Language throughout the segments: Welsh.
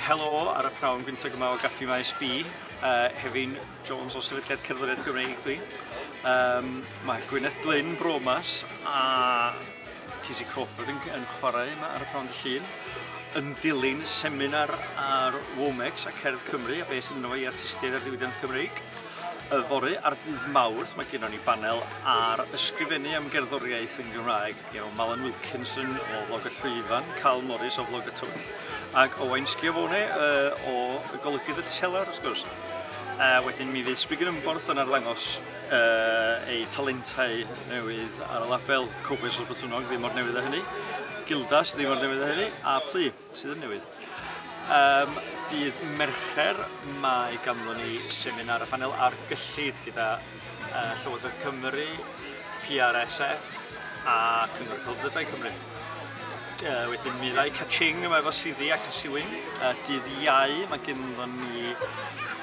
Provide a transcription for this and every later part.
Helo ar y pnawn gyntaf yma o Gaffi Maes B. Uh, Hefin Jones o Sefydliad Cerddoriaeth Gymreig dwi. Um, mae Gwyneth Glyn Bromas a Cizzy Crawford yn, yn chwarae yma ar y pnawn dy llun yn dilyn seminar ar Womex a Cerdd Cymru a beth sydd yn o'i artistiaid ar ddiwydiant Cymreig. Y fori ar ddydd Mawrth mae gennym ni banel ar ysgrifennu am gerddoriaeth yn Gymraeg Iawn, Malan Wilkinson o Flog y Llwyfan, Carl Morris o Flog y Twll, ac Owain Schiavone uh, o Golygydd y Telar, wrth gwrs. A wedyn mi fydd Sbrig yn Ymborth yn arddangos uh, ei talentau newydd ar y label Cowboys o'r Bytwnog, ddim o'r newydd o hynny, Gildas, ddim o'r newydd o hynny, a Plu. Sydd yn newydd? Um, dydd Mercher mae ganddon ni seminar a phanel ar gyllid gyda uh, Llywodraeth Cymru, PRSF a Cyngor Celfyddydau Cymru. Uh, wedyn mi ddau catching yma efo Siddi ac Asiwyn. Uh, dydd Iau mae ganddon ni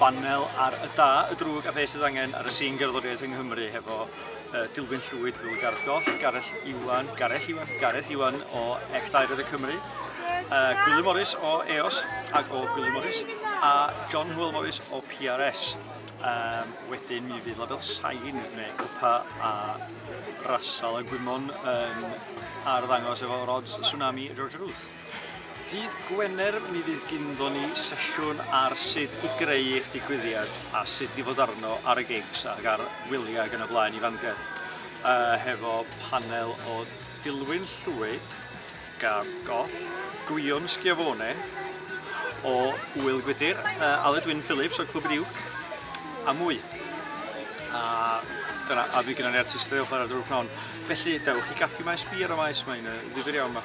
banel ar y da, y drwg a beth sydd angen ar y sîn gerddoriaeth yng Nghymru hefo uh, Dilwyn Llwyd, Wil Gardos, Gareth Iwan, Gareth Iwan, Gareth Iwan o Ec Daered y Cymru, uh, Gwilym Morris o EOS ac o Gwilym Morris, a John Hwyl Morris o PRS. Um, wedyn mi fydd label sain neu cwpa a rasal y gwymon um, ar ddangos efo rods tsunami George Ruth. Dydd Gwener mi fydd gynddon ni sesiwn ar sut i greu eich digwyddiad a sut i fod arno ar y gigs ac ar wyliau ac yn y blaen i Fangor uh, hefo panel o Dilwyn Llwyd, Gab Goll, Gwion Schiavone o Wyl Gwydir, uh, Aled Wyn Phillips o Clwb Riwc a mwy. A dyna, a fi gyda ni artistau o chwarae'r drwg pnawn. Felly, dewch i Gaffi Maes Bier o Maes, mae'n uh, ddifur iawn yma.